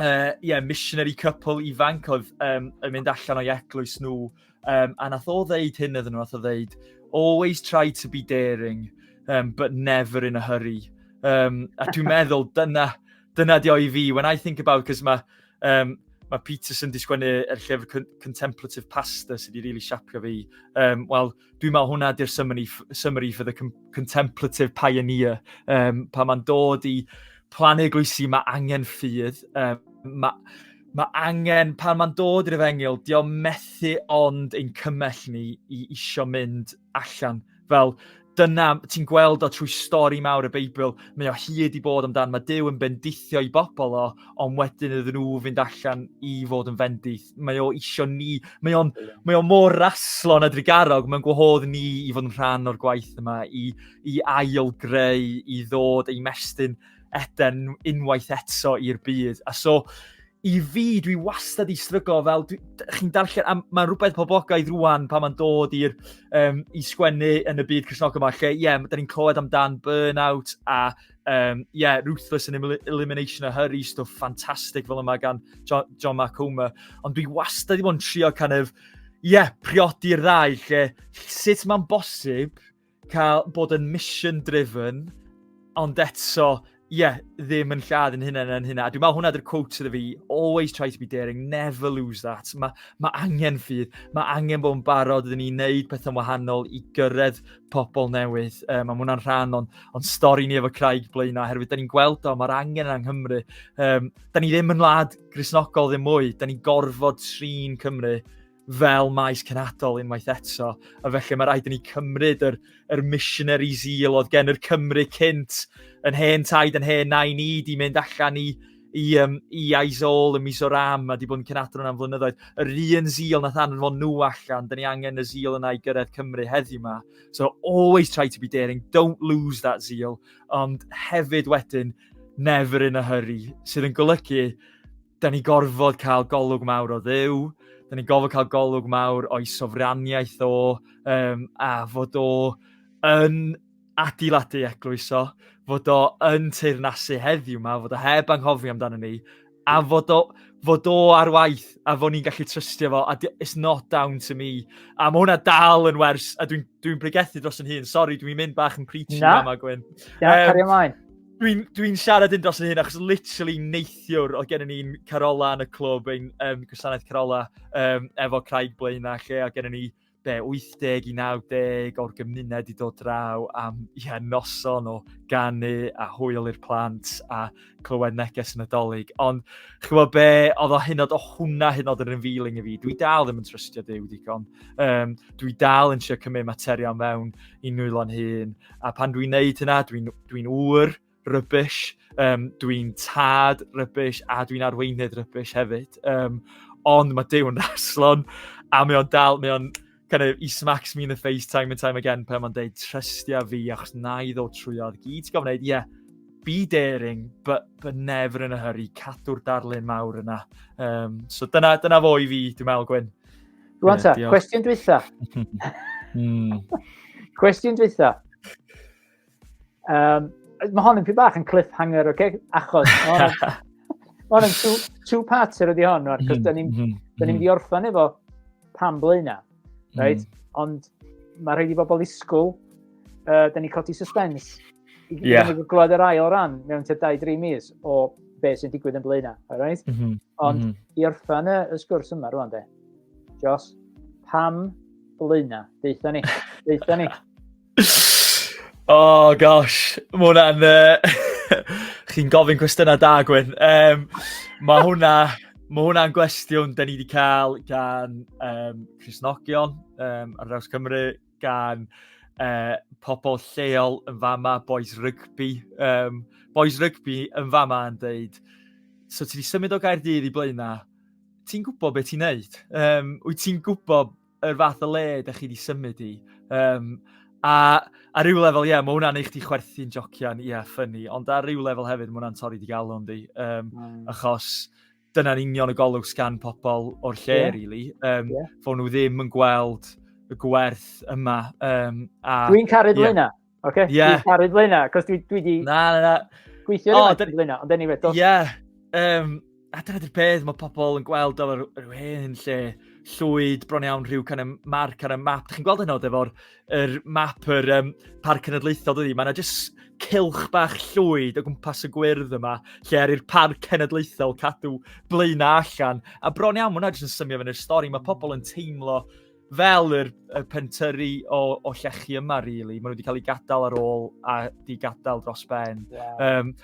uh, yeah, missionary couple ifanc oedd um, yn mynd allan o'i eglwys nhw Um, a nath o ddeud hyn iddyn nhw, nath o ddeud, always try to be daring, um, but never in a hurry. Um, a dwi'n meddwl, dyna, dyna di o i fi. When I think about, cos mae um, mae Peterson di sgwennu er llyfr Contemplative Pasta sydd wedi really siapio fi. Um, Wel, dwi'n meddwl hwnna di'r summary, summary for the Contemplative Pioneer. Um, pa mae'n dod i plannu glwysi, mae angen ffydd. Um, mae Mae angen, pan mae'n dod i'r efengyl, di o'n methu ond ein cymell ni i isio mynd allan. Fel, dyna, ti'n gweld o trwy stori mawr y Beibl, mae o hyd i bod amdan, mae Dyw yn bendithio i bobl o, ond wedyn iddyn nhw fynd allan i fod yn fendith. Mae o isio ni, mae o'n mae o mor raslo na drigarog, mae'n gwahodd ni i fod yn rhan o'r gwaith yma, i, i ail greu, i ddod ei mestyn Eden unwaith eto i'r byd. A so, i fi, dwi wastad i stryglo fel, chi'n darllen, a mae'n rhywbeth poblogaidd rwan pan mae'n dod i'r um, i sgwennu yn y byd Cresnog yma, lle, ie, yeah, da ni'n clywed amdan burnout a, ie, um, yeah, ruthless and elimination a hurry, stuff ffantastig fel yma gan John, John Macoma. Ond dwi wastad i fod yn trio kind of, ie, yeah, priodi'r ddau, lle, sut mae'n bosib cael bod yn mission driven, ond eto, ie, yeah, ddim yn lladd yn hynny yn hynny. A dwi'n meddwl hwnna dy'r quote iddo fi, always try to be daring, never lose that. Mae ma angen ffydd, mae angen bod yn barod iddyn ni wneud pethau'n wahanol i gyrraedd pobl newydd. Um, mae hwnna'n rhan o'n, on stori ni efo Craig blaen na, herwydd da ni'n gweld o, mae'r angen yng Nghymru. Um, da ni ddim yn wlad grisnogol ddim mwy, da ni'n gorfod trin Cymru fel maes cenadol unwaith eto, a felly mae rhaid i ni cymryd yr, yr missionary zeal oedd gen yr Cymru cynt yn hen taid yn hen nain ni di mynd allan i, i, um, i Aizol ym mis o'r am a di bod yn cenadron am flynyddoedd. Yr un zeal nath anfon nhw allan, dyn ni angen y zeal yna i gyrraedd Cymru heddiw yma. So always try to be daring, don't lose that zeal, ond hefyd wedyn never in a hurry, sydd yn golygu Da ni gorfod cael golwg mawr o ddew, da ni gorfod cael golwg mawr o'i sofraniaeth o, um, a fod o yn adeiladu eglwys o, fod o yn teirnasu heddiw yma, fod o heb anghofio amdano ni, a fod o, fod o ar waith, a fod ni'n gallu trystio fo, a it's not down to me. A mae hwnna dal yn wers, a dwi'n dwi, dwi pregethu dros yn hun, sori, dwi'n mynd bach yn preachy yma, Gwyn. Na, um, cario ymlaen. Dwi'n dwi siarad yn dros yn hyn, achos literally neithiwr oedd gen i ni'n Carola yn y clwb, ein um, gwasanaeth Carola, um, efo Craig Blaen a lle, a gen i ni be, 80 i 90 o'r gymuned i dod draw am ia, noson o ganu a hwyl i'r plant a clywed neges yn y dolyg. Ond chywod be, oedd o hynod o hwnna hynod yn revealing i fi. Dwi dal ddim yn trystio Dyw digon. Um, dwi dal yn siarad cymryd materion mewn i nwylo'n hun. A pan dwi'n neud hynna, dwi'n dwi'n ŵr rybys, um, dwi'n tad rybys a dwi'n arweinydd rybys hefyd. Um, ond mae Dew yn raslon a mae o'n dal, mae o'n kind of, he smacks me in the face time and time again pan mae'n deud trystia fi achos na i ddod trwy oedd gyd ti'n gofyn yeah, be daring, but, but never in a hurry, cadw'r darlun mawr yna. Um, so dyna, dyna fo i fi, dwi'n meddwl, Gwyn. Rwan ta, cwestiwn dwytha. Hmm. cwestiwn dwytha. Um, mae hon yn pwy bach yn cliffhanger, oce? Okay? Achos, mae hon yn two, two parter ydi hon, rwan, cos da ni'n mm -hmm. ni orffan efo pan blaena, mhm. right? Mm. Ond mae rhaid i bobl ddisgwyl, uh, da ni'n codi suspens. I yeah. glod yr ail ran mewn te 2-3 mis o be sy'n digwydd yn blaena, alright? Mm -hmm. Ond mm -hmm. i orffan y sgwrs yma rwan, de, Jos, pam blaena? Deitha ni, deitha ni. oh gosh, mae hwnna'n... Uh, chi'n gofyn cwestiynau da, Gwyn. Um, mae hwnna... Mae hwnna'n gwestiwn da ni wedi cael gan um, Crisnogion um, ar draws Cymru, gan uh, pobl lleol yn fama, boys rygbi. Um, boys rygbi yn fama yn dweud, so ti wedi symud o Gaerdydd i Blaenau, ti'n gwybod beth ti'n neud? Um, wyt ti'n gwybod yr fath o le ydych chi wedi symud i. Um, a ar ryw lefel, ie, yeah, mae hwnna'n eich di chwerthu'n jocian, ie, yeah, ffynnu. Ond ar ryw lefel hefyd, mae hwnna'n torri di galw yn di. Um, mm. Achos dyna'n union y golwg sgan pobl o'r lle, yeah. really. Um, yeah. Fo nhw ddim yn gweld y gwerth yma. Um, a... Dwi'n caru yeah. Blaenau. Oce, okay, yeah. dwi'n caru Blaena, cos dwi, dwi di... Na, na, na. Gweithio oh, dyn... Blaena, ond anyway, dos. Yeah. Um, a dyna dy'r peth, mae pobl yn gweld o'r rhywun lle llwyd bron iawn rhyw can y marc ar y map. Chi'n gweld hynod efo'r er map yr um, parc cenedlaethol dydi? Mae yna jyst cilch bach llwyd o gwmpas y gwyrdd yma, lle ar i'r parc cenedlaethol cadw blaenau allan. A bron iawn, mae hwnna jyst yn symio fyny'r stori. Mae pobl yn teimlo fel yr, y pentyrru o, o llechi yma, really. Maen nhw wedi cael eu gadael ar ôl a di gadael dros ben. Yeah. Um,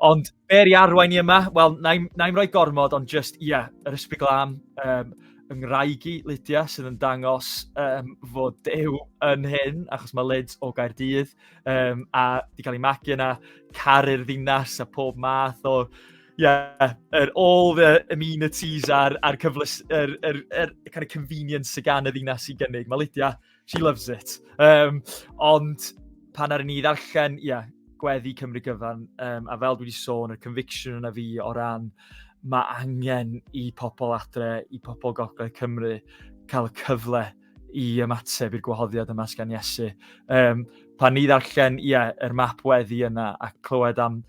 ond ber i arwain i yma, wel, na i'n rhoi gormod, ond just, ie, yeah, yr ysbryd glam, um, yng ngwraig i, Lydia, sydd yn dangos um, fod dew yn hyn, achos mae Lyd o Gaerdydd, um, a di cael ei magu yna, caru'r ddinas a pob math o yeah, er, all the amenities a'r, ar cyfles, er, er, er, kind of convenience sy'n gan y ddinas i gynnig. Mae Lydia, she loves it. Um, ond pan ar ni ddarllen, ie, yeah, gweddi Cymru gyfan, um, a fel dwi wedi sôn, y conviction yna fi o ran mae angen i pobl adre, i pobl gogledd Cymru cael y cyfle i ymateb i'r gwahoddiad yma sgan Iesu. Um, pan ni ddarllen, ie, yeah, yr map weddi yna a clywed am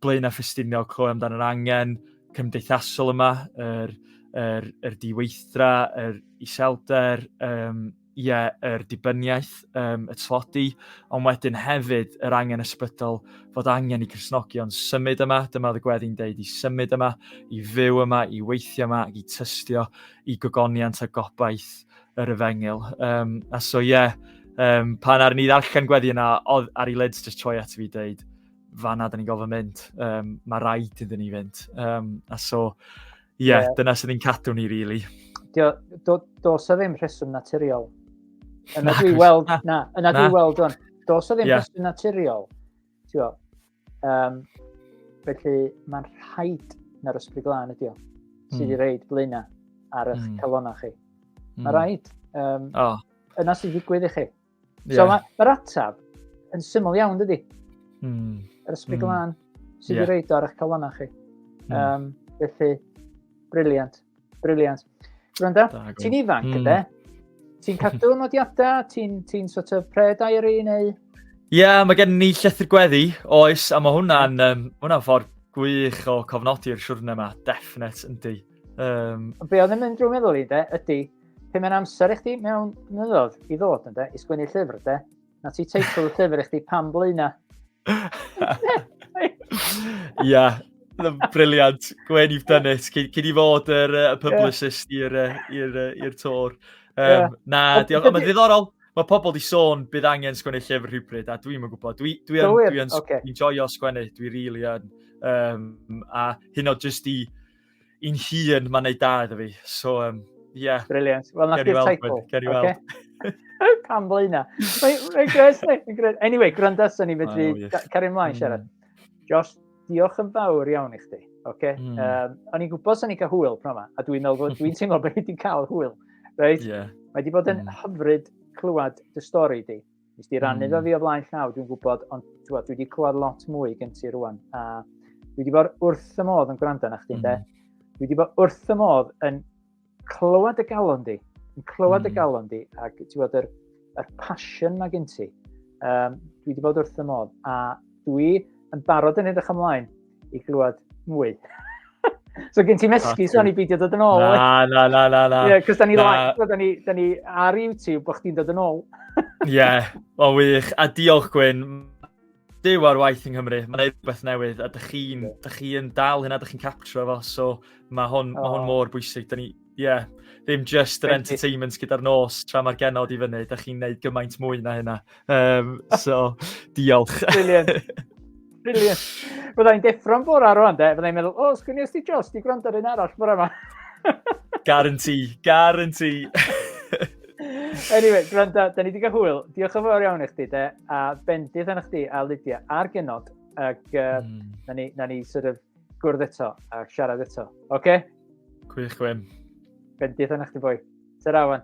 Blaenau Ffestiniog, clywed amdano yr angen cymdeithasol yma, yr, yr, yr diweithdra, yr iselder, um, ie, yeah, yr dibyniaeth, um, y tlodi, ond wedyn hefyd yr angen ysbrydol fod angen i Cresnogion symud yma, dyma oedd y gweddi'n deud, i symud yma, i fyw yma, i weithio yma, i tystio i gogoniant a gobaith yr efengil. Um, a so ie, yeah, um, pan ar ni ddarllen gweddi yna, oedd ar ei lids just troi at fi dweud, fanna dyn ni'n gofyn mynd, um, mae rhaid iddyn ni fynd. Um, a so, ie, yeah, yeah. dyna sydd ni'n cadw ni, really. Do, do, do so ddim rheswm naturiol. Yna dwi weld, na, na yna dwi weld o'n. Do so ddim yeah. rheswm naturiol. Tio, um, felly mae'n rhaid na'r ysbryd glân ydi o, sydd mm. i reid blaenau ar eich mm. calonau chi. Mm. Mae rhaid. Um, oh. Yna sy'n digwydd i chi. Yeah. So mae'r ma ataf yn syml iawn, dydy? Mm. Yr ysbryd mm. glân sydd yeah. wedi reid ar eich calonau chi. Mm. Um, felly, briliant, briliant. Gwranda, ti'n ifanc, mm. ynddo? Ti'n cadw nodiadau? Ti'n ti sort of pre-diary neu... Ie, yeah, mae gen ni llethr gweddi, oes, a mae hwnna'n um, hwnna ffordd gwych o cofnodi'r siwrne yma, definite, yndi. Um, Be oedd yn mynd drwy meddwl i, de, ydy, Pe mae'n amser i chdi mewn mynyddodd i ddod yn de, i sgwini llyfr de, na ti teitl y llyfr i chdi pam blaena. Ia, briliant. Gwen, you've done it. Cyn, i fod yr uh, publicist i'r uh, tor. Um, yeah. Na, diolch. Ond mae'n ddiddorol. Mae pobl di sôn bydd angen sgwennu llyfr rhywbryd, a dwi'n yn gwybod. Dwi'n dwi, dwi, dwi, dwi okay. enjoyio sgwennu, dwi'n really yn. Um, a hyn o jyst i i'n hun, mae'n neud da iddo fi. So, um, yeah. Brilliant. Wel, na di'r teitl. Ger i weld. Okay. Pam ble yna? Anyway, gwranda, so ni fedri cario ymlaen siarad. Hmm. Josh, diolch yn fawr iawn i chdi. Okay? Mm. Um, o'n i'n gwybod sy'n ei cael hwyl pnawn yma, a dwi'n meddwl, dwi'n teimlo bod wedi cael hwyl. Right? Yeah. Mae wedi bod yn mm. hyfryd clywed dy stori di. Nes di rannu mm. fi o flaen llaw, dwi'n gwybod, ond twa, dwi wedi clywed lot mwy gen ti rwan. A dwi wedi bod wrth y modd yn gwrando na chdi'n mm. de. Dwi wedi bod wrth y modd yn clywed y galon di. Yn clywed mm. y galon di ac ti'n gwybod yr, yr passion mae gen ti. Um, dwi wedi bod wrth y modd a dwi yn barod yn edrych ymlaen i glwad mwy. so gen ti mesgu, so ni beidio dod yn ôl. Na, na, na, na, na. Ie, cos da ni, da ni, da ni ar YouTube bod chdi'n dod yn ôl. Ie, yeah, o wych. A diolch Gwyn, Dyw ar waith yng Nghymru, mae'n gwneud rhywbeth newydd, a dych chi'n chi dal hynna, dych chi'n capture fo, so mae hwn, oh. ma hwn mor bwysig. Da ni, Ie, yeah. ddim just yr entertainment gyda'r nos tra mae'r genod i fyny. Da chi'n neud gymaint mwy na hynna. Um, so, diolch. Brilliant. Brilliant. Byddai'n deffro'n bora rwan, de. Byddai'n meddwl, o, oh, sgwni os di Josh, di gwrando ar un arall bora yma. guarantee, guarantee. anyway, gwrando, da ni wedi cael hwyl. Diolch yn fawr iawn i chdi, de. A bendith yn chdi, a Lydia, a'r genod. Ac uh, mm. na, ni, na ni sort of gwrdd eto a siarad eto. Oce? Okay? Gwych, Gwyn. Bendith yna chdi boi. Tara, Wan.